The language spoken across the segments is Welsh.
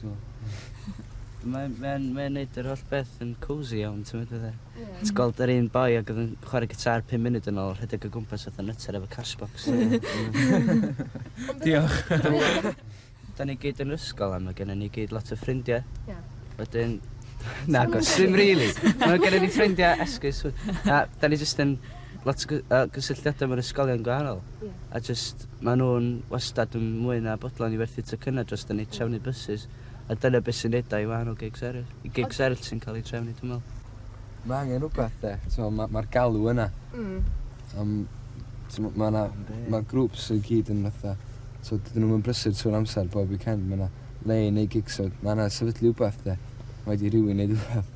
So Mae mae'n mae'n neud yr holl beth yn cosy iawn t'mod fatha... Ie. ...ti gweld yr un boi ag odd yn chware gitar pum munud yn ôl rhedeg o gwmpas fatha nytser efo Cashbox. Diolch. 'Dan ni gyd yn 'r ysgol a ma' gennon ni gyd lot o ffrindie. Ie. Wedyn nagos dim rili. Ma' gennon ni ffrindie esgus we- na 'dan ni jyst yn lot o gy- yy gysylltiada mewn ysgolion gwahanol. a jyst maen nhw'n wastad yn mwy na bodlon i werthu tocynnau dros dan ni trefnu bysus a dyna beth sy'n neud o i wahanol gigs eraill. Y gigs eraill sy'n cael eu trefnu dwi'n meddwl. Mae angen rhywbeth de, mae'r ma, ma galw yna. Mm. Um, mae ma, na, ma grwps sy'n gyd yn fatha, so dydyn nhw'n brysur trwy'r amser bob weekend, mae yna le i neud gigs, so mae yna sefydlu rhywbeth de. Mae wedi rhywun neud rhywbeth.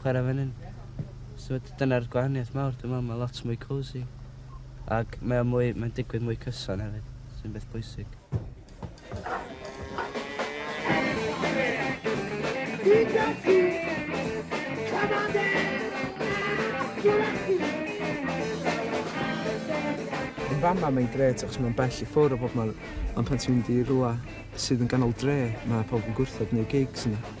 chwarae fan hyn. So dyna'r gwahaniaeth mawr dwi'n meddwl, mae lot mwy cosy. Ac mae'n mwy, mae'n digwydd mwy cyson hefyd, sy'n beth bwysig. Yn fama mae'n gret achos mae'n bell i ffwrdd o bob man, ond pan ti'n mynd i rhywle sydd yn ganol dre, mae pobl yn gwrthod neu gigs yna.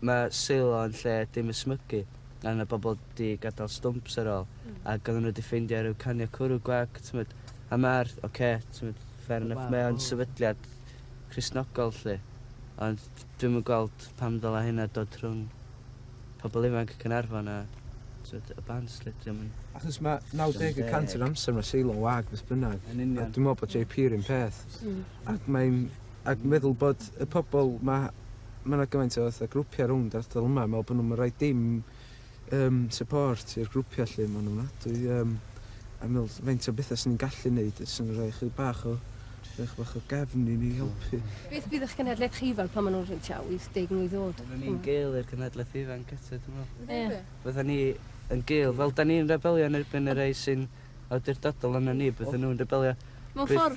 Mae Silo yn lle dim ysmygu gan y bobl di gadal stumps ar ol a gan nhw di ffeindio rhyw canio cwrw gwag t'mod a ma'r ok t'mod fair enough mae o'n sefydliad Cristnogol lly ond dwi'm yn gweld pam ddyla hynna dod rhwng pobl ifanc Caernarfon a t'mod y bands lly diom yn Achos ma' 90 y cant o'r amser ma' Silo yn wag beth bynnag. Yn union. A dwi me'wl bod JP 'run peth. Hmm. Ac mae'n Ac yn meddwl bod y pobl 'ma, ma' 'na gymaint o fatha grwpiau rownd yr ardal yma, meddwl bod nhw'm yn rhoi dim yym support i'r grwpiau 'lly, ma'n ofnadwy yym a meddwl faint o bethau 'swn i'n gallu 'neud os o'n nhw'n rhoi chydig bach o rhoi chydig bach o gefn i ni helpu. Beth fydd eich cenhedlaeth chi fel pan ma' nhw'n rhyw tua 80 mlwydd o'd? Bydden ni'n gul i'r cenhedlaeth ifanc eto dwi'n meddwl. Ie. Bydden ni yn gul, fel 'dan ni'n rebelio yn erbyn y rhei sy'n awdurdodol arnon ni, bydden nhw'n rebelio. Mewn ffor'.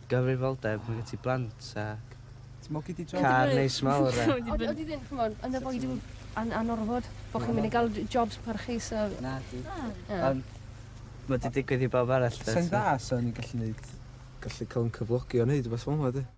Gyfrifoldeb ma' gen ti blant ac... Ti'n mwgu di job? ...car neis mawr a... Odi odi ddim ch'mod yn avoid you an- anorfod bo' chi'n myn' i ga'l j- jobs parchus a... Nadi. Na. Na. Ond ma' 'di digwydd i bawb arall 'de so... Sai'n dda so o'n i'n gallu neud gallu ca'l 'yn cyflogi a neud rwbeth fel 'ma 'di?